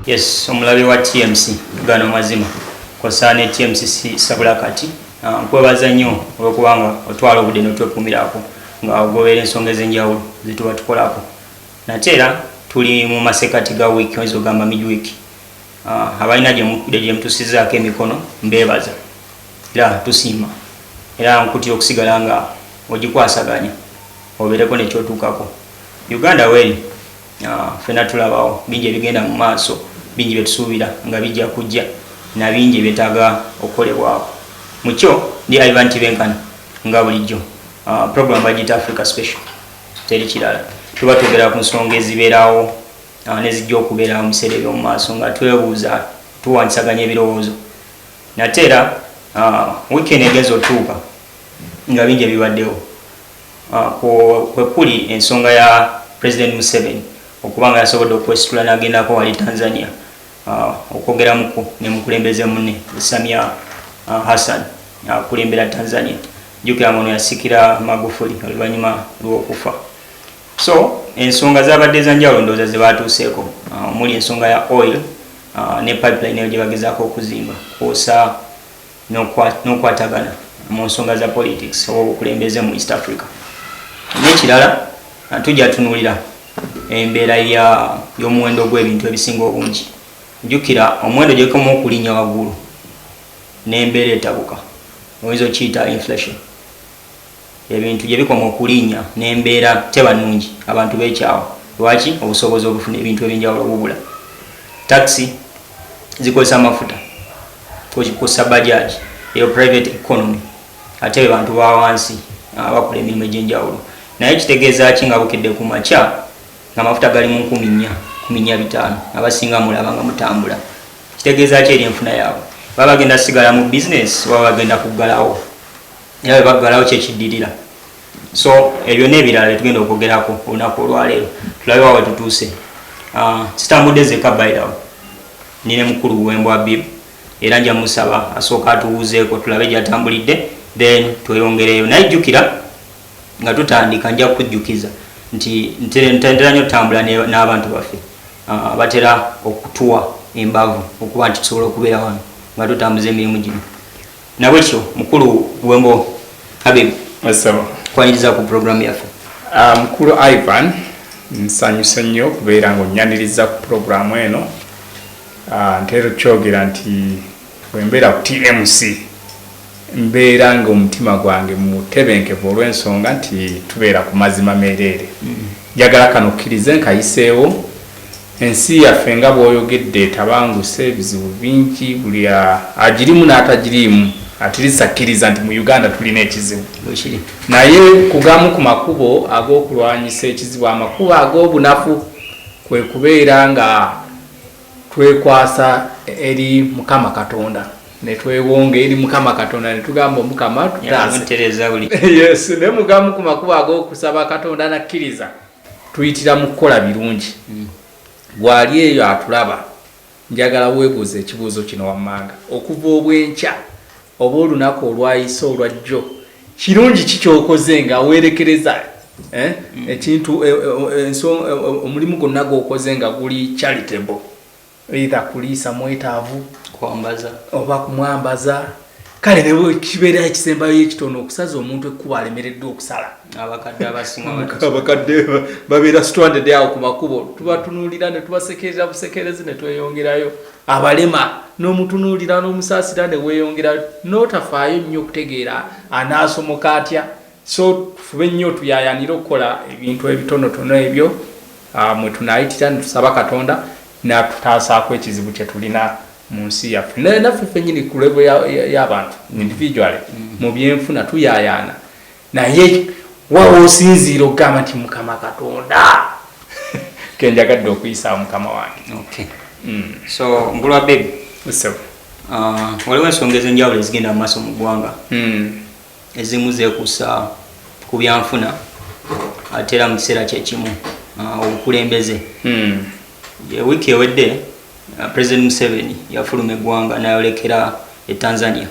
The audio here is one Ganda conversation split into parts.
yes omulabe wa tmc tugana amazima kosa ne tmc sabula kati ah, nkwebaza nnyo olwokubanga otwala obudde notwekumirako nga ogobera ensonga ezenjawulo zetuba tukolako nate era tuli mu masekati ga wiiki oyinza ogamba midweek Ah, abalina gyemutusizaako emikono mbebaza era tusiima era nkutira okusigala nga ogikwasaganya obereko nekyotuukako uganda weri ah, fena tulabawo bingi ebigenda mu maaso bingi byetusuubira nga bijja kujja na bingi ebyetaaga okukolebwako mukyo ndi ivan tibenkana nga bulijjo ah, program bagita africa special teri kirala tuba twogera ku nsonga ezibeerawo awo ne zijja okubeerawo mu biseera eby'omu maaso nga twebuuza tuwanjisaganya ebirowoozo nate era wiiki eno egenza otuuka nga bingi ebibaddewo kwe kuli ensonga ya president museveni okuba nga yasobodde okwesitula n'agendako wali tanzania okwogeramuko ne mukulembeze munne samia hassan akulembera tanzania jukira nga ono yasikira magufuli oluvannyuma lw'okufa So ensonga zabadde za njawulo ndowooza ze baatuuseeko uh, omuli ensonga ya oil uh, ne pipeline eyo gye bagezaako okuzimba kwosa n'okwatagana mu nsonga za politics oba obukulembeze mu east africa n'ekirala uh, tujja tunuulira embeera y'omuwendo gw'ebintu ebisinga obungi jjukira omuwendo gyekoma okulinnya waggulu n'embeera etabuka oyinza okiyita inflation ebintu gye bikoma okulinya n'embeera teba nnungi, abantu beekyawa. Lwaki? Obusobozi obufuna ebintu eby'enjawulo bubula. Takisi zikozesa mafuta kwossa bajaaji, eyo private economy ate be bantu ba wansi abakola emirimu egy'enjawulo. Naye kitegeeza ki nga bukedde ku makya ng'amafuta gali mu nkumi nnya, nkumi nnya bitaano, abasinga mulaba nga mutambula? Kitegeeza ki eri enfuna yaabwe? Baba bagenda sigala mu bizinensi oba bagenda kuggalawo? era bwe baggalawo kyekiddirira so ebyo n'ebirala bye tugenda okwogerako olunaku olwaleero tulabe wa wetutuuse ah, sitambudde zeka bairawo ni ne mukulu wembwa bib era nja musaba asooka atuwuuzeeko tulabe gyatambulidde then tweyongereyo naye jjukira nga tutandika nja kujjukiza nti ntera nyo tutambula n'abantu baffe ah, batera okutuwa embavu okuba nti tusobola okubeera wano nga tutambuza emirimu gino Nabwekityo mukulu Buwembo Habib kwaniriza ku program yaffe. Ah, mukulu Ivan nsanyuse nnyo okubeera nga onnyaniriza ku program eno ah, ntera okyogera nti bwembeera ku TMC mbeera nga omutima gwange mutebenkevu olw'ensonga nti tubeera ku mazima meereere mm. njagala kano kkirize nkayiseewo Ensi yaffe nga bwoyogedde etabanguse ebizibu bingi buli agirimu n'atagiriimu at least akkiriza nti mu Uganda tulina ekizibu naye ku gamu ku makubo ag'okulwanyisa ekizibu amakubo ag'obunafu kwe kubeera nga twekwasa eri Mukama Katonda netwewonga eri mukama katonda netugamba omukama tutaase ne mugamu ku makubo ag'okusaba katonda nakkiriza tuyitira mu kukola birungi mm. gwali eyo atulaba njagala weebuuza ekibuuzo kino wammanga okuva obwenkya oba olunaku olwayise olwa jjo kirungi kikyokoze nga weerekereza eh? mm. ekintu eh, eh, omulimu gwonna gwokoze nga guli charitable either kuliisa mwetaavu kwambaza oba kumwambaza kale ne kibeera ekisembayo ekitono okusaza omuntu ekkuba alemereddwa okusala abakadde abasingaabakadde babeera stranded awo ku makubo tubatunuulira ne tubasekerera busekerezi ne tweyongerayo abalema n'omutunuulira n'omusaasira ne weeyongerayo n'otafaayo nnyo okutegeera anaasomoka atya So tufube nnyo tuyayanire okukola ebintu ebitonotono ebyo ah, mwe tunayitira netusaba Katonda natutaasaako ekizibu kye tulina mu nsi yaffe naye naffe fenyini ku levo y'abantu individually mm. mu byenfuna tuyayaana naye wawa osinziira okugamba nti mukama katonda kenjagadde okuyisa mukama wange mm. so ngulwa bebi uh, waliwo ensonga ezenjawulo ezigenda mu maaso mu ggwanga mm. ezimu zekusa ku byanfuna ate era mu kiseera kyekimu ah, obukulembeze hmm. wiiki ewedde ah, president museveni yafuluma eggwanga nayolekera e tanzania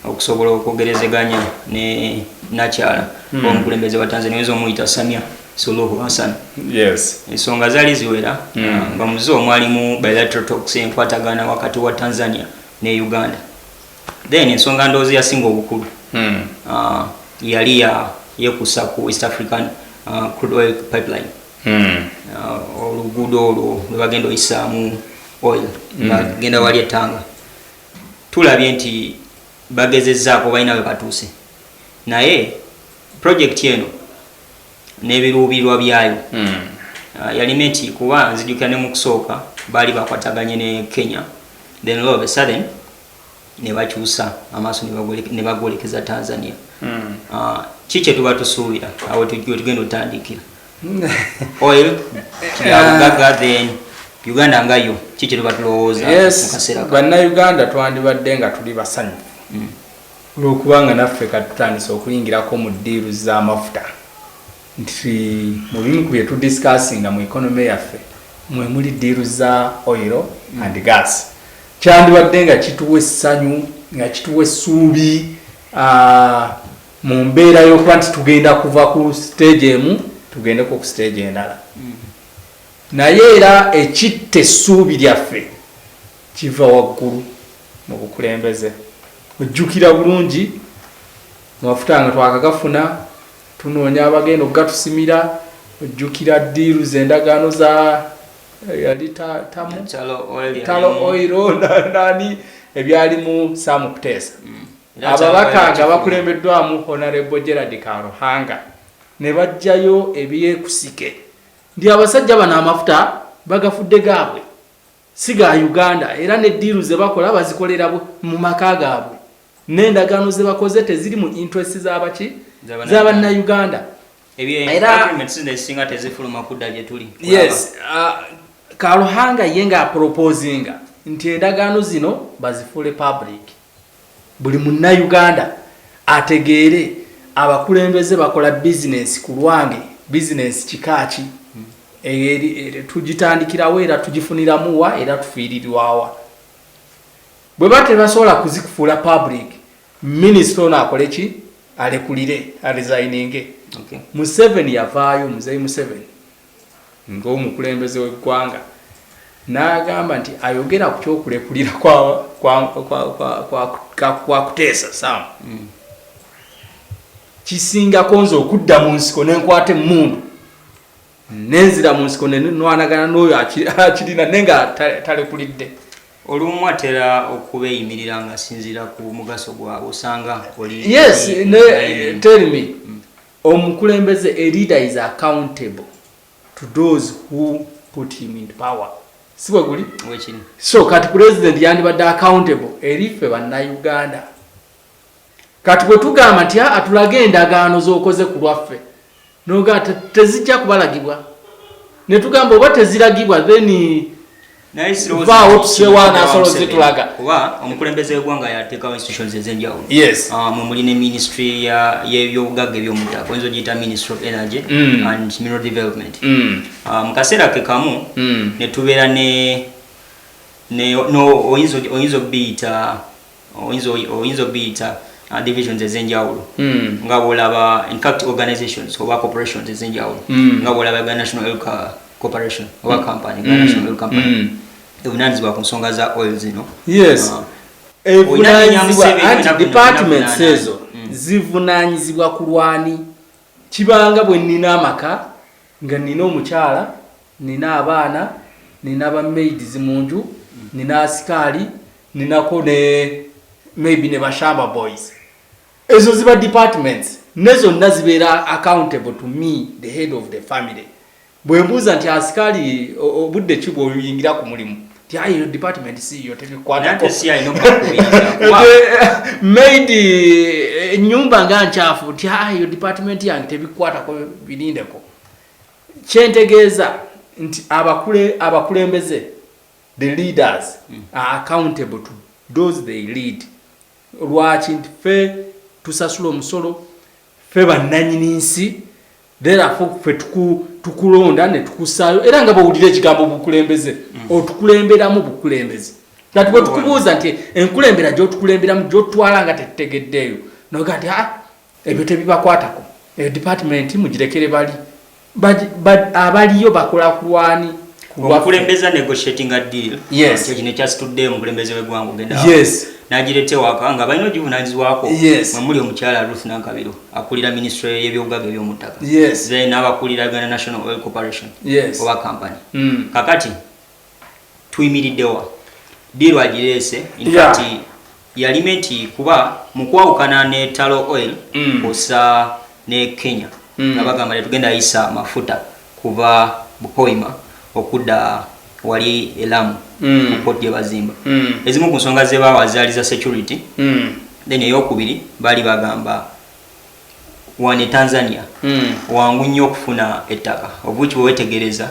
okusobola okwogerezeganya ne nakyala hmm. omukulembeze wa tanzania oyinza omuyita samia suluhu hassan ensonga yes. zaali ziwera hmm. ah, nga muzo omwalimu bilateral talks enkwatagana wakati wa tanzania ne uganda then ensonga ndowooza yasinga obukulu hmm. ah, yali yekusa ku east african ah, crude oil pipeline hmm. ah, oluguudo olwo lwebagenda oyisaamu oil hmm. bagenda wali ettanga tulabye nti bagezezaako balina webatuuse naye projekiti eno n'ebiruubirwa byayo yalina nti kuba nzijukira ne mu kusooka baali bakwataganye ne kenya then all of a sudden ne bakyusa amaaso ne bagolekeza tanzania hmm. ah, ki kye tuba tusuubira awo tugenda otandikira oil kyabugaga ah. then uganda nga yo ki kye tuba tulowooza bannayuganda twandibadde nga tuli basanyu hmm. olwokubanga naffe katutandisa okuyingirako mu ddiiru z'amafuta nti mu bimu ku bye tudisikasinga mu economy yaffe mwe muli diiru za oil and gas kyandibadde nga kituwa essanyu nga kituwa essuubi mu mbeera y'okuba nti tugenda kuva ku siteegi emu tugendeko ku siteegi endala naye era ekitta essuubi lyaffe kiva waggulu mu bukulembeze ojjukira bulungi mafuta nga twakagafuna Tunoonya abagenda okugatusimira ojjukira diiru z'endagaano za eh, yali tamu talo oiro nani ebyalimu saamu kuteesa mm. ababaka nga bakulembeddwamu honarebo gerard karuhanga ne bajjayo ebyekusike ndi abasajja bano amafuta bagafudde gaabwe si ga Uganda era ne ddiiru ze bakola bazikolera mu maka gaabwe n'endagaano ze bakoze teziri mu interests za baki za Bannayuganda era yes uh, Karuhanga ye nga apropoozinga nti endagaano zino bazifuule public Buli Munnayuganda ategeere abakulembeze bakola bizinensi ku lwange, bizinensi kika ki, tugitandikira wa era tugifuniramu wa era tufiirirwa wa? Bwe baba tebasobola kuzikufuula public, minisita ono akole ki? Alekulire, arizayininge. Museveni yavaayo, Muzeeyi Museveni. ng'omukulembeze w'eggwanga n'agamba nti ayogera ku kyokulekulira kwa kuteesa sam mm. kisingako nze okudda mu nsiko nenkwata emmundu nenzira mu nsiko nenwanagana n'oyo akirina naye nga talekulidde olumu atera okubeeyimirira ng'asinziira ku mugaso gwabwe osanga yes tell me mm. Omukulembeze, a leader is accountable to those who put him in power. Si bwe guli? Wekini. So kati president yandibadde accountable eri ffe bannayuganda. Kati bwe tugamba nti a tulaga endagaano z'okoze ku lwaffe noga tezijja kubalagibwa ne tugamba oba teziragibwa then vaawo tusewo anasolo zitulaga kuba omukulembeze wegwanga yatekawo institutions ezenjawulo yes. uh, ah, mwemuli ne ministry yebyobugagga ebyomuttaka oyinza ogiyita ministry of energy mm. and mineral development mm. uh, mu kaseera ke kamu mm. netubeera ne oyinza obiyita oyinza oyinza obiyita uh, divisions ezenjawulo mm. nga bwolaba in fact organizations oba corporations ezenjawulo mm. nga bwolaba ga national oil corporation oba hmm. company ga mm. national oil company mm. evunanyizibwa ku nsonga za oil zino yes uh, departments ezo hmm. zivunanyizibwa kulwani kibanga bwe nina amaka Nga nnina omukyala, nnina abaana, nnina ba maids mu nju, nnina asikaali, nninako ne maybe ne ba shamba boys. Ezo ziba departments. Ne zonna zibeera accountable to me, the head of the family. Bwe mbuuza nti asikaali obudde ki bw'oyingira ku mulimu? Tiayi yo department si yo tege kwa nako. Nante si ayi no kwa Made eh, nyumba nga nchafu tiayi yo department yange tebikwata ko bilinde ko. Chentegeza nti abakule abakulembeze the leaders mm. are accountable to those they lead. lwaki nti fe tusasula omusolo fe bannanyini nsi therefo fe tukulonda ne tukusaayo era nga bwowulira ekigambo bukulembeze mm. otukulemberamu bukulembeze kati bwe tukubuuza nti enkulembera gyotukulemberamu gyotwala nga tetutegeddeeyo noga nti ah, Ebyo tebibakwatako. Eyo department mugirekere bali. Baj, baj, abaliyo bakola kulwani. Omukulembeza negotiating a deal. Yes. Kyo kino kyasitudde omukulembeze w'eggwanga ogenda. Yes. N'agireeta ewaka nga balina ogivunanyizibwako. Yes. Mwe muli omukyala Ruth Nankabiro akulira ministry y'ebyobugaga ebyomuttaka. Yes. Then n'abakulira Uganda National Oil Corporation. Yes. Oba company. Mm. Kakati. tuyimiriddewa diiru agireese infact yeah. yalime nti kuba mukwawukana ne talo oil mm. kusa ne kenya mm. nga bagamba tetugenda yisa mafuta kuva bupoima okudda wali elamu mm. mukoti gyebazimba mm. ezimu ku nsonga zebawa zaali za security mm. then eyokubiri baali bagamba wane tanzania mm. wangu nnyo okufuna ettaka obuki bwewetegereza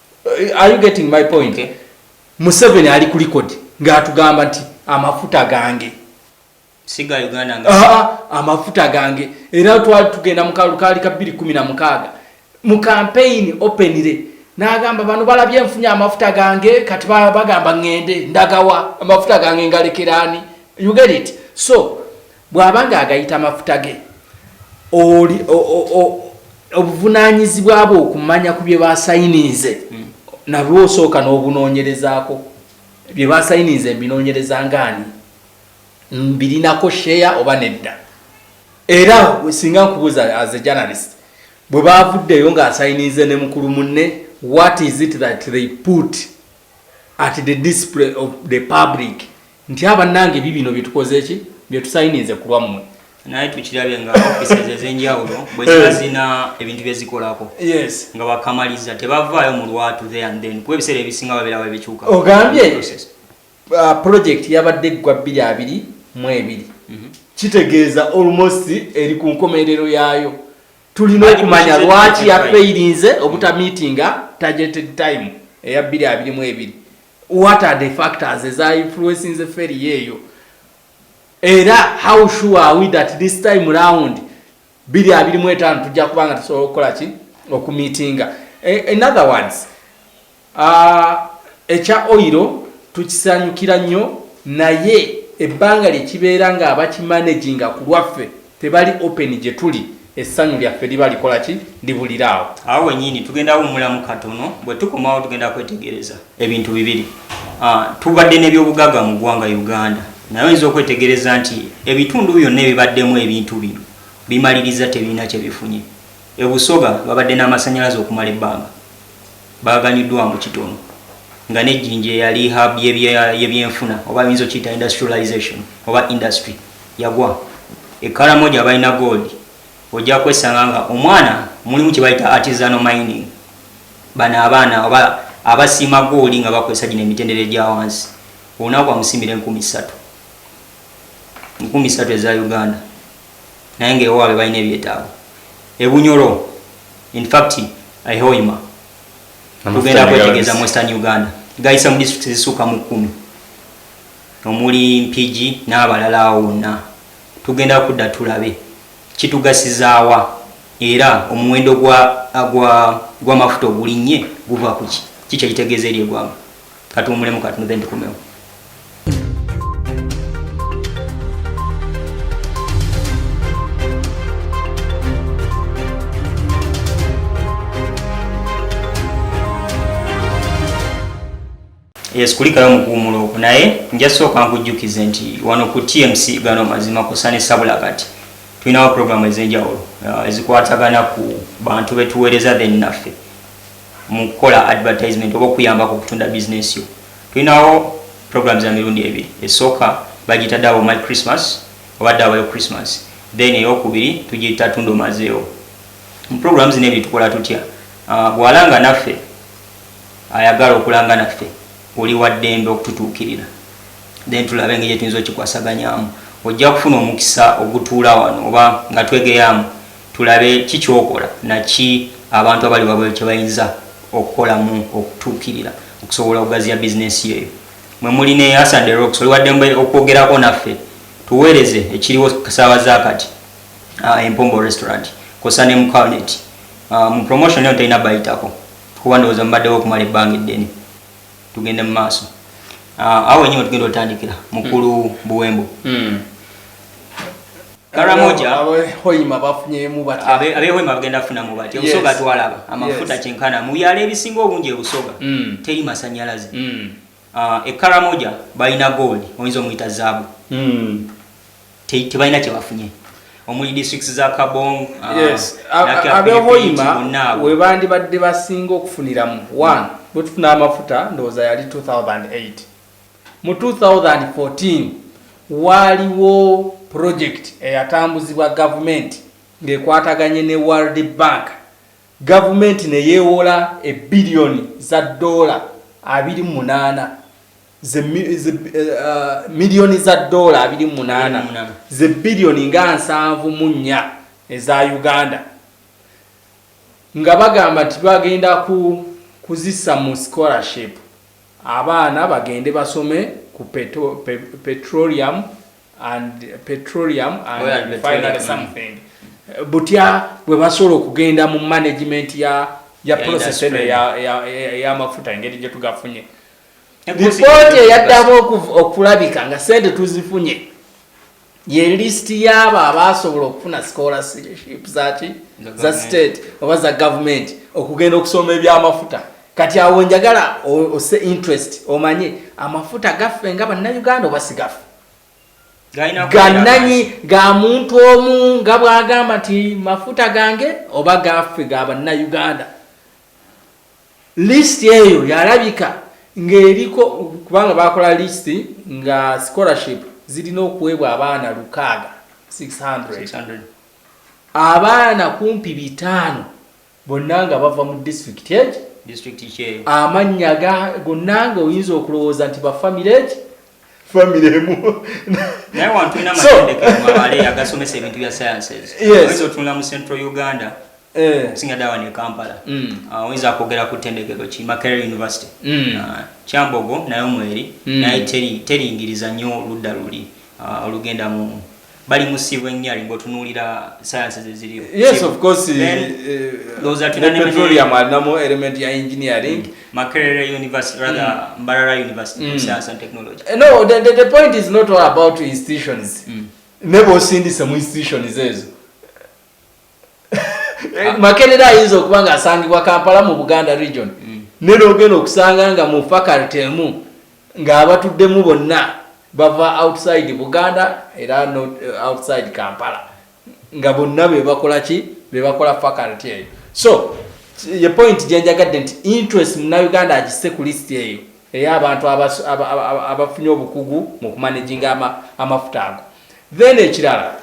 are you getting my point okay. museveni ali ku likodi ngaatugamba nti amafuta gange siga uganda nga ah, ah, amafuta gange era twali tugenda mukalukaali ka 216 mu kampeyini openire nagamba bano balabye nfunye amafuta gange kati bagamba ŋŋende ndagawa amafuta gange ngalekeraani you get it so Bw'aba ng'agayita mafuta ge, oli obuvunaanyizibwa bwe okumanya ku bye baasayiniize hmm. nabwo osooka n'obunoonyerezaako bye baasayiniize mbinoonyereza ngaani mbirinako sheya oba nedda era singa nkubuuza as a journalist bwe baavuddeyo ng'asayiniize ne mukulu munne what is it that they put at the display of the public nti abannange bibino byetukoze ki byetusayininze ku lwammwe naye tukirabye nga offices ezenjawulo bweziba eh. zina ebintu byezikolako nga bakamaliza tebavaayo mu lwatu the and then kuba ebiseera ebisinga babeera babikyuka ogambye uh, project yabadde eggwa bbiri abiri mu ebiri mhm. kitegeeza almost eri ku nkomerero yaayo tulina okumanya lwaki yafeyirinze obutamiitinga targeted time eya bbiri abiri mu ebiri what are the factors eza influencing feri yeyo era how sure are we that this time round bili abili mwetano tujja kubanga tusobola okukola ki okumitinga e, in other words uh, ekya oiro tukisanyukira nnyo naye ebbanga lyekibeera nga abakimanaginga ku lwaffe tebali open gyetuli essanyu lyaffe liba likola ki libulira awo. Awo wenyini tugenda wumulamu katono bwetukomawo tugenda kwetegereza ebintu bibiri ah, tubadde nebyobugaga mu gwanga Uganda naye oyinza okwetegereza nti ebitundu byonna ebibaddemu ebintu bino bimaliriza tebirina kyebifunye ebusoga babadde n'amasanyalaze okumala ebbanga Baaganiddwa mbu kitono nga ne Jinja eyali hub y'ebyenfuna oba oyinza okiyita industrialization oba industry yagwa. E Karamoja abalina gold ojja kwesanga nga omwana mulimu kye bayita artisanal mining. Bano abaana oba abasiima gooli nga bakozesa gino emitendera egya wansi olunaku amusiimira enkumi ssatu, enkumi ssatu eza Uganda. naye nga ewaabwe balina ebyetaago ebunyoro infact ehoima tugenda kwetegeeza mu western uganda gayisa mu district zisuuka mu kkumi omuli mpigi n'abalala awo wonna tugenda kudda tulabe kitugasizaawa era omuwendo gw'amafuta ogulinnye guva kuki ki kyekitegeeza eri egwanga katuwumulemu katono then tukomewo yes kulikayo mukuwumula okwo naye nja sooka nkujjukize nti wano ku tmc gano mazima kusana esabula kati tulinawo programu ez'enjawulo uh, ezikwatagana ku bantu betuweereza then naffe mu kukola advertisement oba okuyamba ku kutunda business yo tulinawo programs za mirundi ebiri esooka bagiyita dawo my christmas oba dawo yo christmas then eyokubiri tugiyita tunda omazeewo mu program zino ebyo tukola tutya ah, bwalanga naffe ayagala okulanga naffe oli waddembe okututuukirira then tulabe engeri gyetuyinza okikwasaganyamu ojja kufuna omukisa ogutuula wano oba nga twegeyaamu Tulabe ki ky'okola na ki abantu abali wabweru kye bayinza okukolamu okutuukirira okusobola okugaziya bizineesi yo. Eyo mwe muli ne Us and the Rocks. Oli wa ddembe okwogerako naffe. Tuweereze ekiriwo ssaawa za kati, Empombo Restaurant kwossa ne mu Calnet. Mu promotion eno tolina bayitako kuba ndowooza mubaddewo okumala ebbanga eddene. Tugende mu maaso. Awo wennyini we tugenda otandikira, Mukulu Buwembo. Karamoja abehoima bafunyemu bati abehoima bagenda funa mu bati obusoga yes. twalaba amafuta yes. kyenkana mu byalo ebisinga obungi ebusoga mm. teri masanyalaze mm. uh, ah, ekaramoja balina gold oyinza omuyita zaabu mm. tebalina te kyebafunye omuli districts za kabong ah, yes. abehoima webandibadde basinga okufuniramu one mm. bwetufuna amafuta ndowooza yali 2008 Mu 2014 waaliwo pulojekiti eyatambuzibwa gavumenti ng'ekwataganye ne World Bank, gavumenti ne yeewola ebbiliyoni za ddoola abiri mu munaana ze miliyoni za ddoola abiri mu munaana ze biliyoni nga nsanvu mu nnya eza Uganda nga bagamba nti bagenda kuzissa mu scholarship. Abaana bagende basome ku peto, pe, petroleum and petroleum and, and finally something butya bwe basobola okugenda mu management ya ya process eno ey'amafuta engeri gye tugafunye lipooti eyaddamu okulabika nga sente tuzifunye ye list yaabo abaasobola okufuna scholarship zaki za state oba za gavumenti okugenda okusoma ebyamafuta kati awo njagala ose interest omanye amafuta gaffe nga bannayuganda oba sigafe gananyi ga muntu omu nga bwagamba nti mafuta gange oba gaffe ga bannayuganda List eyo yalabika ng'eriko kubanga baakola list nga scholarship zirina okuweebwa abaana lukaaga 600 abaana kumpi bitaano bonna nga bava mu disitulikiti egi amannya gonna nga oyinza okulowooza nti bafamire egi family emu naye wantu ina matendeke mabale yagasomesa ebintu bya sciences yes so tunula mu central uganda eh singa dawa ne kampala mm uh, wenza kogera ku tendeke ko chima care university mm uh, chambogo nayo mweri mm. naye teri teri ingiriza nyo ludda luli uh, olugenda mu bali musiibo ennyo ali bwotunuulira sayansi zeziriyo yes of course ndowoza tunanepetroleum alinamu element ya engineering mm. makerere university rather mm. mbarara university mm. science and technology eh, no the, the, the point is not all about institutions mm. nebwosindise mu institutions ezo Eh, makerere ayinza okuba nga asangibwa kampala mu buganda region mm. naye nogenda okusanga nga mu faculty emu ng'abatuddemu bonna bava outside buganda era eh, outside kampala nga bonna bebakola ki bebakola faculty eyo so ye point gyenjagadde nti interest munauganda agise ku list eyo eyo abantu abafunye obukugu mu kumanaginga amafuta ago Then ekirala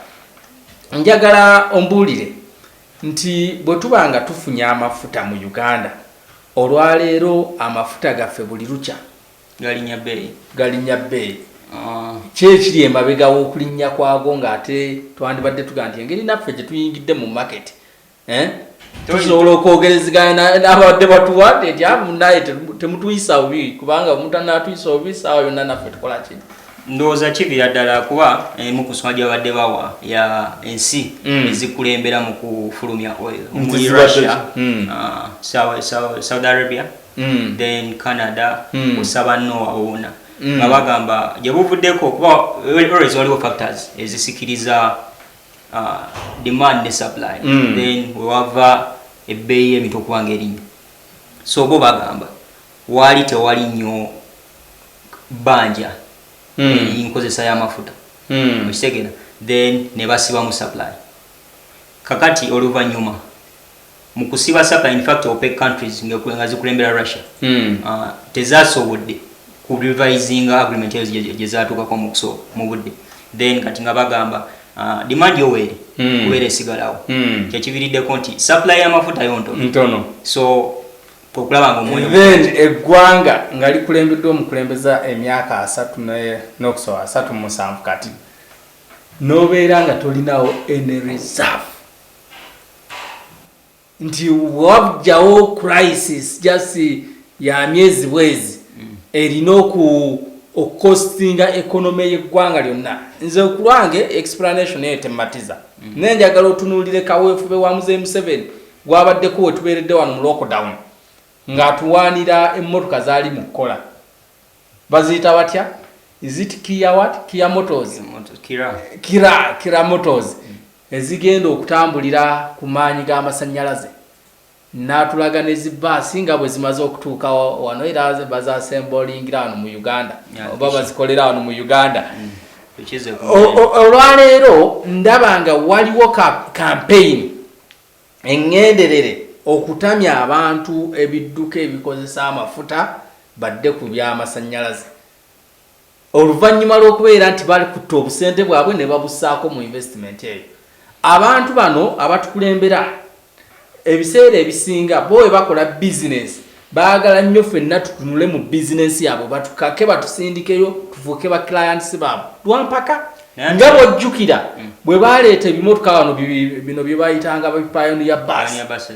njagala ombuulire nti bwe tuba nga tufunye amafuta mu Uganda olwaleero amafuta gaffe buli lukya galinnya bbeeyi galinnya bbeeyi ah. kyekiri emabega w'okulinnya kwago ng'ate twandibadde tuga nti engeri naffe gye tuyingidde mu maketi eh? tusobola okwogerezegana nabadde batuwa nti amunaye temutuyisa bubi kubanga omuntu anatuyisa bubi saawa yonna naffe tukola ki ndowooza kivira ddala kuba emu ku nsonga gyabadde bawa ya ensi mm. ezikulembera mu kufulumya oil omuli russia mm. ah, saudi arabia mm. then canada osaba noa owona nga bagamba gyebuvuddeko kuba always waliwo factors ezisikiriza uh, demand ne supply mm. then wewava ebbeeyi y'ebintu okuba nga erinnya so bo bagamba waali tewali nnyo bbanja mm. erinkozesa y'amafuta mm. okitegera then ne basibamu supply kakati oluvannyuma mukusiba saka in fact opec countries nga zikulembera russia mm. uh, tezasobodde ku revising agreement ezo gyezatukako mukusooka mu budde then kati nga bagamba uh, demand yoweri mm. kubeera esigalawo mm. kyekiviriddeko nti supply yamafuta yo ntono ntono so okulaba nga omwoyo then eggwanga nga likulembeddwa omukulembeza emyaka asatu n'okusoba asatu musanvu kati nobeera nga tolinawo any reserve nti wabjawo crisis just ya myezi bwezi mm. erina okukosinga ekonome yeggwanga lyonna nze kulwange explanation eyo tematiza mm. naye njagala otunulire kaweefube wa muzeyi museveni gwabaddeko wetubeeredde wano mu lockdown ng'atuwaanira emmotoka zaali mu kukola baziyita batya is it kia what kia motos kira kira motos mm. ezigenda okutambulira ku maanyi g'amasannyalaze n'atulaga ne zi bbaasi nga bwe zimaze okutuuka wano era bazasembolingira wano mu uganda oba bazikolera wano mu uganda mm. olwaleero ndaba nga waliwo kampeyini eŋŋenderere okutamya abantu ebidduka ebikozesa amafuta badde ku byamasannyalaze Oluvannyuma lw'okubeera nti balikutte obusente bwabwe ne babussaako mu investment eyo, abantu bano abatukulembera ebiseera ebisinga bo bwe bakola bizinensi baagala nnyo ffenna tutunule mu bizinensi yaabwe batukake batusindikeyo tufuuke ba clients baabwe lwampaka nga bwojjukira mm. bwe baleeta ebimotoka bano bino bye bayitanga bipayoniya basi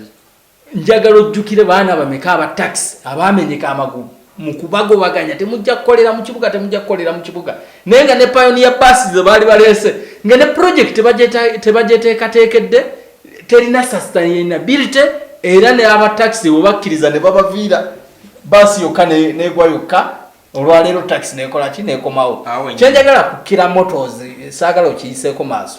Njagala ojjukire baana bameka aba takisi abaamenyeka amagulu mu kubagobaganya. Temujja kukolera mu kibuga, temujja kukolera mu kibuga. Naye nga ne payoniya bbaasi ze baali baleese nga ne pulojekiti tebagyeteekateekedde, terina sasitayinabirite era ne aba takisi bwe bakkiriza ne babaviira bbaasi yokka n'egwa yokka. Olwaleero takisi neekola ki? Neekomawo. Kye njagala kukira motozi, saagala okiyiseeko maaso.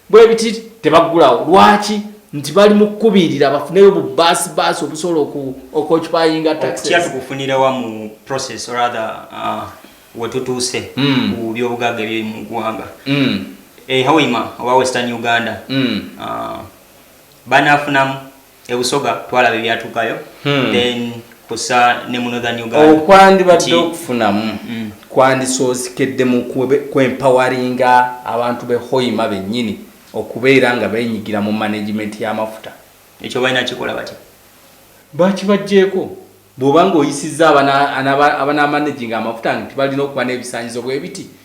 Bwebiti tebaggulawo lwaki nti bali mu kukubiirira bafuneyo bu baasi baasi obusobola okwokipayinga taxes tukufunira wa mu process or other uh, wetutuuse mm. ku byobugagga ebiri mu ggwanga mm. e eh, hawima oba western uganda mm. uh, banafunamu ebusoga twalaba ebyatukayo hmm. then kusa ne mu northern uganda okwandibadde okufunamu hmm. kwandisoozikedde mu kwempawaringa abantu be hoima bennyini okubeera nga benyigira mu management y'amafuta ekyo balina kikola batya bakibajjeeko bw'oba nga oyisizza abanamanaginga amafuta nti balina okuba n'ebisanyizo bwebiti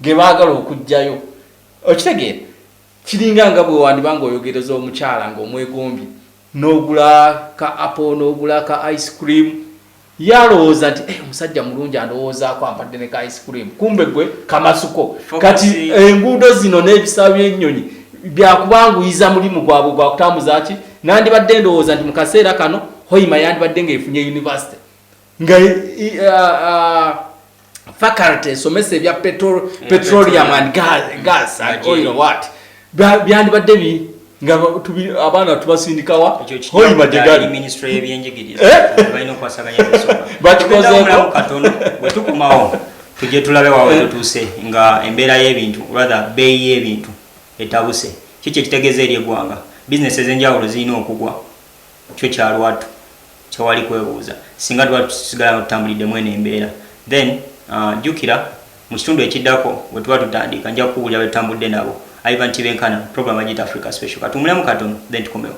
ge baagala okuggyayo okitegeera kiringa nga bwe wandiba ng'oyogereza omukyala ng'omwegombye n'ogula ka apo n'ogula ka ice cream ye alowooza nti eh, omusajja mulungi andowoozaako ampadde ne ka ice cream kumbe gwe kamasuko kati enguudo zino n'ebisaawo by'ennyonyi byakubanguyiza mulimu gwabwe gwakutambuza ki nandibadde ndowooza nti mu kaseera kano hoima yandibadde ng'efunye yunivasite nga faculty esomesa ebya petroleum and gas and oil what byandibadde bi nga abaana tubasindikawa hoi majegaliminisitule yebyenjigiriza eh? balina okukwasaganya bwetukomawo tujje tulabe wawe eh? tutuuse nga embeera y'ebintu rather beeyi y'ebintu etabuse kiki ekitegeeza eri eggwanga bizinesi ez'enjawulo zirina okugwa Kyo kya lwatu tewali kwebuuza. Singa tuba tusigala nga tutambulidde mu eno embeera, then uh, jjukira mu kitundu ekiddako we tuba tutandiika nja kukubuulira be tutambudde nabo. Ivan Tibenkana, program agiyita Africa Special. Katuwumulemu katono, then tukomewo.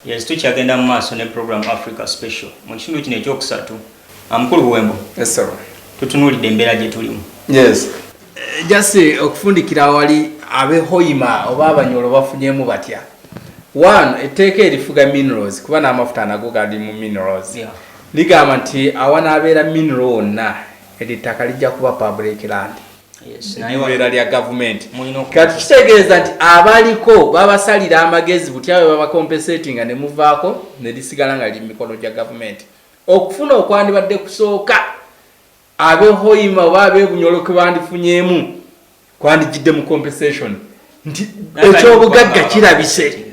Yes, tukyagenda mu maaso ne program Africa Special mu kitundu kino ekyokusatu. Amukulu Buwembo. Yes, sir. Tutunuulidde embeera gye tulimu. Yes. Eh, just eh, okufundikira awali abehoima oba abanyolo bafunyemu batya one etteeka erifuga minerals kuba n'amafuta nago gali mu minerals yeah. ligamba nti awanaabeera mineral wonna eryo ettaka lijja kuba public land ebeera lya gavumenti kati kitegeeza nti abaliko babasalira amagezi butya bwe babakompesetinga ne muvaako ne lisigala nga liri mu mikono gya gavumenti okufuna okwandibadde kusooka abehoima oba abebunyolo ke bandifunyeemu kwandijjidde mu compensation nti ekyobugagga kirabise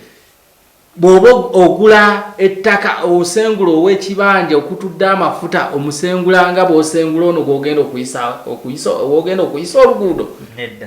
Bw'oba ogula ettaka osengula ow'ekibanja okutudde amafuta omusengula nga bw'osengula ono gw'ogenda okuyisa okuyisa oluguudo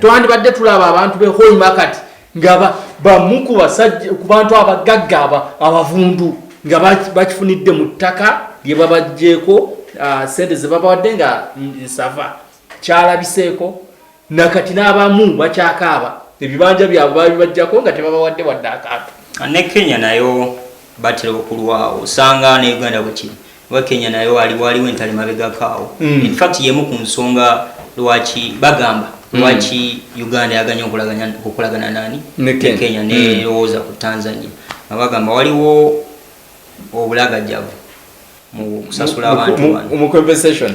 twandibadde tulaba abantu be hoima kati nga bamu ku basajja ku bantu abagagga abavundu nga bakifunidde mu ttaka lye babajjeeko ah, ssente ze babawadde nga nsava kyalabiseeko nakati n'abamu bakyakaaba ebibanja byabwe babibajjako nga tebabawadde wadde akantu ne kenya nayo batera okulwawo osanga ne uganda bwekiri oba kenya nayo aliwo aliwo entale mabegakaawo mm. infact yemu ku nsonga lwaki bagamba mm. lwaki mm. uganda yaganya okukolagana nani ne kenya nerowooza mm. ku tanzania abagamba waliwo obulagajjavu mu compensation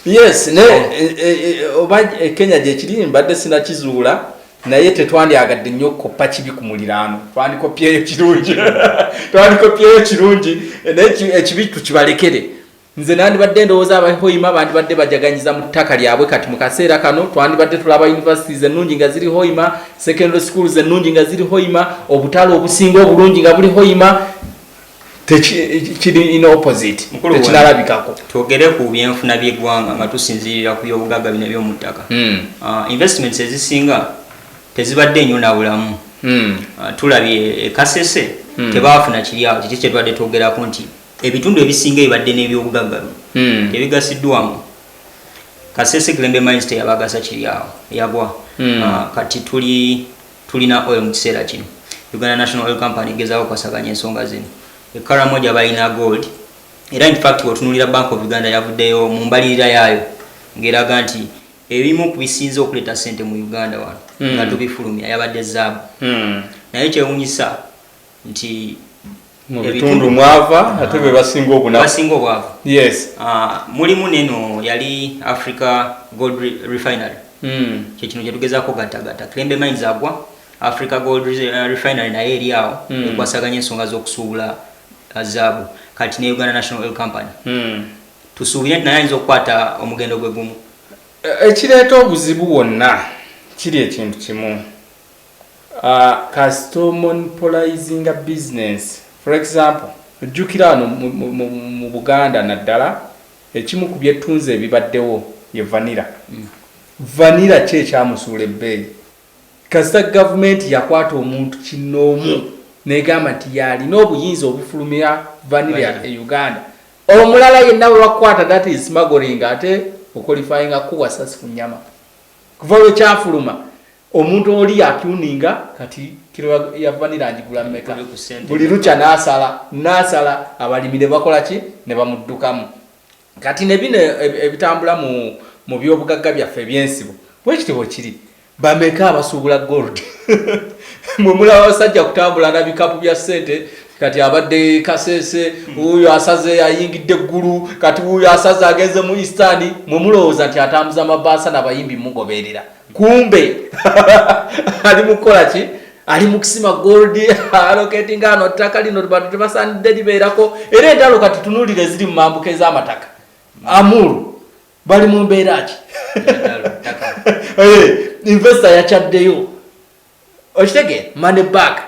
yes ne e, e, e, oba kenya gyekiri mbadde sinakizuula naye tetwandyagadde nnyo okukoppa kibi ku muliraano twandikopyeyo kirungi twandikopyeyo kirungi naye ekibi tukibalekere nze nandibadde ndowooza abahoima bandibadde bajaganyiza mu ttaka lyabwe kati mu kaseera kano twandibadde tulaba universities ennungi nga ziri hoima secondary schools ennungi nga ziri hoima obutale obusinga obulungi nga buli hoima kiri in opposite tekinalabikako twogere ku byenfuna by'eggwanga nga tusinziirira ku byobugagga bino ebyomuttaka hmm. ah, investments ezisinga tezibadde nnyo nabulamu hmm. ah, tulabye ekasese hmm. tebaafuna kiryawo kiki kyetubadde twogerako nti ebitundu ebisinga ebibadde n'ebyobugagga bino tebigasiddwamu kasese glembe minste yabagasa kiryawo yagwa ah, kati tuli Tulina oil mu kiseera kino. Uganda National Oil Company egezaako okwasaganya ensonga zino. E Karamoja balina gold era in fact bw'otunuulira Bank of Uganda yavuddeyo mu mbalirira yaayo ng'eraga nti ebimu ku bisinze okuleeta ssente mu Uganda wano nga tubifulumya yabadde zaabu naye kyewunyisa nti mu bitundu mwava ate be basinga obwavu yes. Ah, mulimu neno yali africa gold refinery hmm. kye kino kyetugezaako gatagata kilembe mines agwa africa gold eh, refinery naye eri awo hmm. ekwasaganya ensonga z'okusuubula ah, zaabu kati ne uganda national oil company hmm. tusuubire nti naye ayinza okukwata omugendo gwe gumu e, ekireeta obuzibu wonna kiri ekintu kimu Kasita omonpolayizinga bizinensi for example jjukira wano mu Buganda naddala ekimu ku byettunzi ebibaddewo ye vanira. Mm. Vanira ki ekyamusuula ebbeeyi? Kasita gavumenti yakwata omuntu kinnoomu negamba nti yalina obuyinza obufulumira vanira e Uganda, omulala yenna bwe bakukwata that is smuggling ate okolifayinga kuwa sasi ku nyama. Kuva lwe kyafuluma Omuntu oli yatuninga kati kilo ya vanira agigula meka buli lukya nasala nasala abalimi ne bakola ki ne bamuddukamu kati ne bino ebitambula mu mu byobugagga byaffe ebyensibo bwekitibwe kiri bameka abasuubula gold mwe mulaba abasajja kutambula na bikapu bya ssente kati abadde kasese wuyo asaze ayingidde eggulu kati wuyo asaze agenze mu istani mwe mulowooza nti atambuza amabaasa nabayimbi mugoberera kumbe ali mukukola ki ali mukusima gold alocating ano ttaka lino bantu tebasanidde libeerako era entalo kati tunulire ziri mu mambuka ez'amataka amulu bali mu mbeera ki eh, investo yakyaddeyo okitegeera money back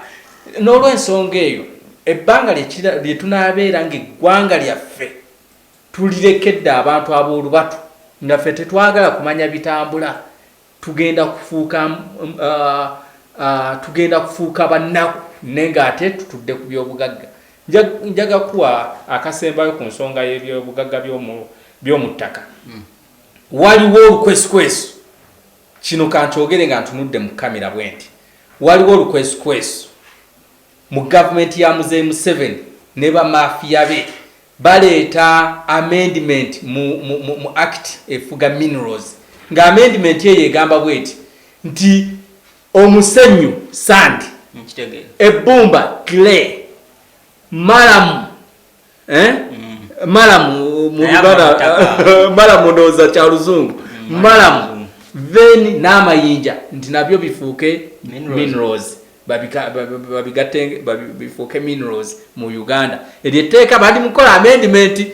n'olwensonga eyo ebbanga lyetunabeera ngaeggwanga lyaffe Tulirekedde abantu ab'olubatu nga ffe tetwagala kumanya bitambula, tugenda kufuuka tugenda kufuuka bannaku ne ng'ate tutudde ku byobugagga. Njaga kuwa akasembayo ku nsonga y'ebyobugagga by'omu ttaka. Waliwo olukwesukwesu, kino kankyogere nga ntunudde mu kkamera bwenti, waliwo olukwesukwesu. Mu government ya Muzei Museveni ne ba mafia be baleeta amendment mu, mu, mu, mu act efuga minerals nga amendment eyo egamba bweti nti omusenyu sand, ebbumba clay, malamu eh? mm. malam mubibara malam ndoza kya luzungu mm, malam then n'amayinja nti nabyo bifuuke minerals babigatte bifuuke minerals mu uganda eryo etteeka bandi mukukola amendimenti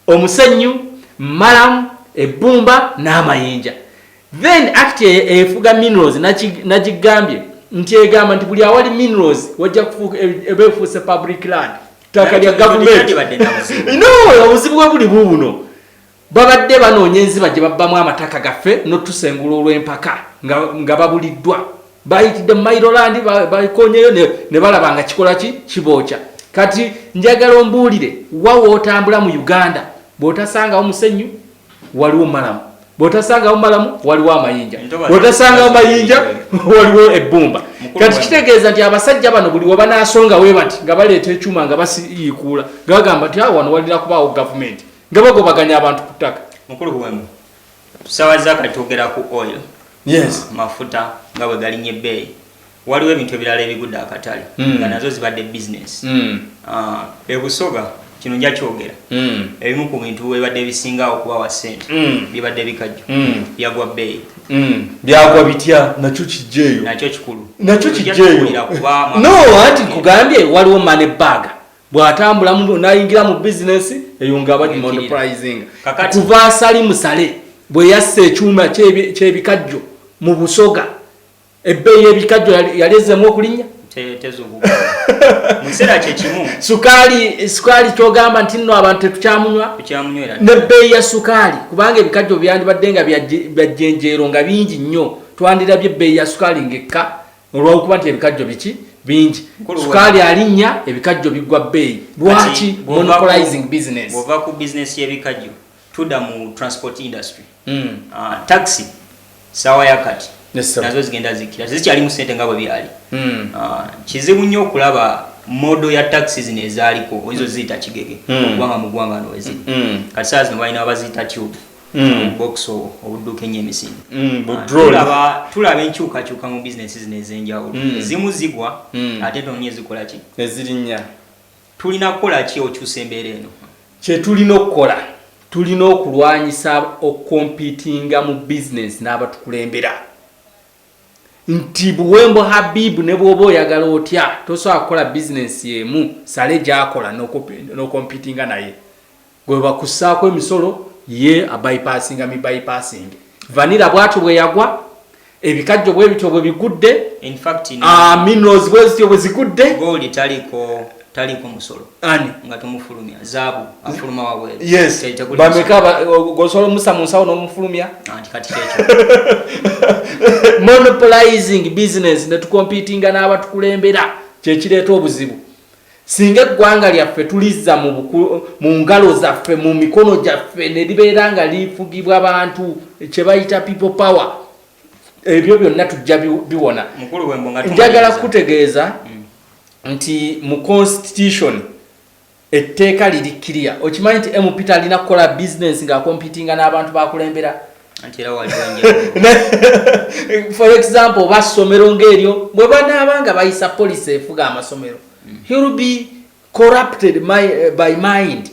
omusenyu malam ebbumba n'amayinja then act e, efuga minerals nagigambye nti egamba nti buli awali minerals wajja kufuuka eba efuuse public land ttaka lya gavumenti no obuzibu bwe buli buubuno babadde banoonya enziba gye babbamu amataka gaffe notusengula olw'empaka nga babuliddwa bayitidde mu mairolandi bakonyeyo ne balaba nga kikola ki kibookya kati njagala ombuulire wawootambula mu uganda bw'otasangawo musenyu waliwo malamu bwotasangawo malamu waliwo amayinja bwotasangawo mayinja waliwo ebbumba kati kitegeeza nti abasajja bano buli wabanasonga we bati nga baleeta ekyuma nga basiikuula nga bagamba nti awo wano walina kubaawo gavumenti nga bagobaganya abantu ku ttaka mukulu wemu tusawa zaka twogera ku oil yes mafuta nga bwe galinye ebbeeyi waliwo ebintu ebirala ebigudde akatale mm. nga nazo zibadde business mm. uh, ebusoga kino nja kyogera mm. ebimu ku bintu ebadde bisinga okubawa sente mm. bibadde bikajjo mm. byagwa bbeeyi mm. byagwa bitya nakyo kijjeeyo nakyo kikulu nakyo kijjeeyo no anti nkugambye waliwo mane baga bw'atambula nayingira mu bizinesi eyo nga abadimondprizinga kuva asali musale bwe yassa ekyuma ky'ebikajjo mu busoga Ebbeeyi y'ebikajjo yali ezzeemu okulinnya? Tezuukuka. Mu kiseera kye kimu. Sukaali, sukaali ky'ogamba nti nno abantu tetukyamunywa? Tukyamunywera. N'ebbeeyi ya sukaali kubanga ebikajjo byandibadde nga bya jjenjeero nga bingi nnyo twandirabye ebbeeyi ya sukaali ng'ekka olw'okuba nti ebikajjo biki bingi sukaali alinnya ebikajjo biggwa bbeeyi lwaki monopolizing business bw'ova ku bizinesi y'ebikajjo tuda mu transport industry mm. uh, taxi sawa ya kati yes, nazo zigenda zikira tezikyalimu sente nga bwe byali mm. uh, kizibu nnyo okulaba modo ya taxi zino ezaaliko oizo ziyita kigege mm. okugwanga mu gwanga noweziri mm. kati saa zino balina wabaziyita tube Mm. box obudduka ennyo emisinde mm, ah, tulaba enkyukakyuka mu bizinesi zino ez'enjawulo mm. ezimu zigwa ate tonya ezikolaki ezirinnya Tulina kukola ki okyusa embeera eno? Kye tulina okukola, tulina okulwanyisa okukompiitinga mu bizinensi n'abatukulembera nti Buwembo Habib ne bw'oba oyagala otya tosobola kukola bizinensi emu Saleh gy'akola n'okompiitinga naye. Gwebakussaako emisolo ye abypassinga mi bypassing. Vanilla bwatyo bweyagwa, ebikajjo bwebityo bwebigudde, minerals bwezityo bwezigudde. Gold taliko taliko musolo. Ani? Nga tumufulumya. Zaabu afuluma wabweru. Yes. Bameka gosobola omusa mu nsawo n'omufulumya. Anti kati kyekyo. Monopolizing business ne tukompitinga n'abatukulembera kye kireeta obuzibu. Singa eggwanga lyaffe tulizza mu, mu ngalo zaffe mu mikono gyaffe ne libeera nga lifugibwa bantu kye bayita people power ebyo byonna tujja biwona. Njagala kukutegeeza mm. nti mu constitution etteeka liri kiriya okimanyi nti mp talina kukola bizinensi ng'akompitinga n'abantu bakulembera anti era waliwo enjawulo for example oba ssomero ng'eryo bwe banaaba nga bayisa policy efuga amasomero mm. he will be corrupted my, uh, by mind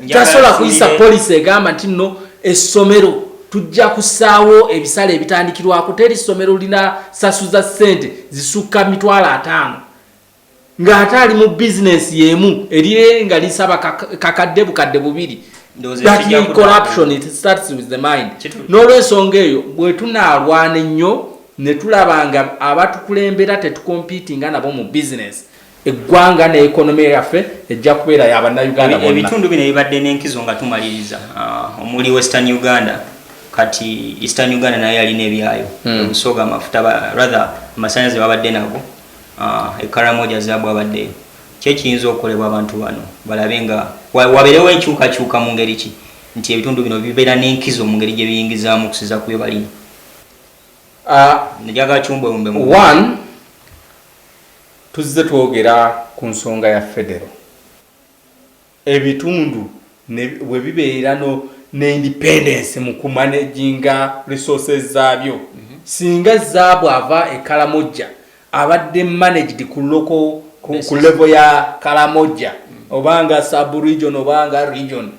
tasobola kuyisa policy egamba nti nno essomero tujja kusaawo ebisale ebitandikirwako teri ssomero lina sasuza ssente zisukka mitwalo ataano ng'ate ali mu bizinensi y'emu erire nga lisaba kakadde bukadde bubiri n'olwensonga eyo bwe tunaalwana ennyo ne tulaba nga abatukulembera tetukompiti nga nabo mu bizinensi eggwanga ne ekonomi yaffe ejja kubeera ya bannayuganda bonna ebitundu bino ebibadde n'enkizo nga tumaliriza uh, omuli western uganda kati eastern uganda nayo yalina ebyayo hmm. obusoga amafuta rather amasanyalaze babadde nago E Karamoja zaabu abaddeyo. Ki ekiyinza okukolebwa abantu bano balabe nga wabeerewo enkyukakyuka mu ngeri ki nti ebitundu bino bibeera n'enkizo mu ngeri gye biyingizaamu okusiza ku bye balina? Njagala kiwumbeewumbe mu. One, tuzze twogera ku nsonga ya federo. ebitundu ne bwe bibeera no ne independence mu ku managinga resources zaabyo, singa zaabu ava e Karamojja abadde managed ku local ku level ya Karamojja oba nga sub region oba nga region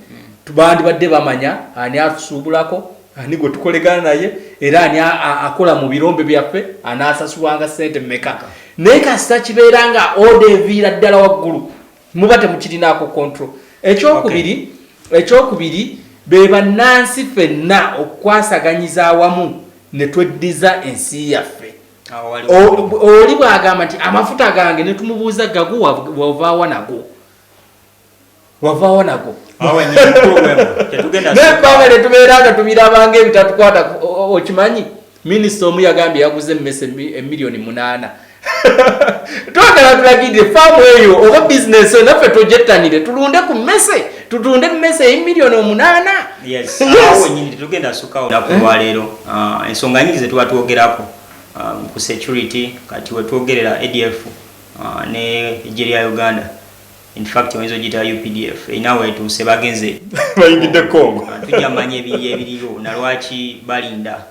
bandibadde bamanya ani atusuubulako, ani gwe tukolegana naye era ani akola mu birombe byaffe anaasasulwanga ssente mmeka naye kasita kibeera nga order eviira ddala waggulu muba temukirinaako control ekyokubiri okay. ekyokubiri be bannansi fenna okukwasaganyiza awamu ne tweddiza ensi yaffe oli bwagamba nti amafuta gange ne tumubuuza gago wavaawa nago wavaawa nago nekwanga ne tubeera nga tubirabanga ebitatukwata okimanyi Minisita omu yagambye yaguze emmese emiliyoni munaana twagala tulagidde faamu eyo oba bizinesi eyo naffe tojettanire tulunde ku mmese tutunde emmese eyimiliyoni omunaana wenyini tetugenda sukawo naku lwaleero eh? ah, ensonga nyingi zetuba twogerako ah, ku security kati wetwogerera adf ah, ne egye lya uganda In fact oyinza ogiyita updf erina weetuuse bagenze bayingidde congo tujja manya ebiri ebiriyo na lwaki balinda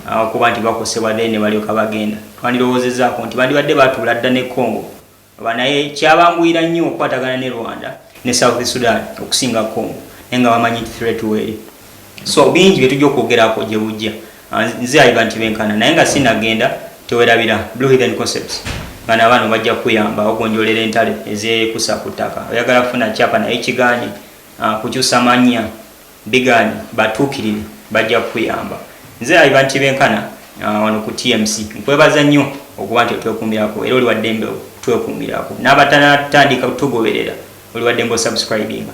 ah, okuba nti bakosebwa then ne balyoka bagenda twandirowoozezaako nti bandibadde batuula dda ne congo oba naye kyabanguyira nnyo okukwatagana ne rwanda ne south sudan okusinga congo naye nga bamanyi nti threat weeri so bingi bye tujja okwogerako gye bujja Ah, nze ayiba nti benkana naye nga sinagenda tewerabira blue hidden concepts nga nabaana bajja kuyamba ogonjolera entale ezekusa ku ttaka oyagala kufuna kyapa naye kiganye ah, kukyusa manya biganye batuukirire bajja kuyamba nze ayiba nti benkana ah, wano ku tmc nkwebaza nnyo okuba nti otwekumirako era oliwaddembe twekumirako n'abatatandika tugoberera oliwaddembe osubscribinga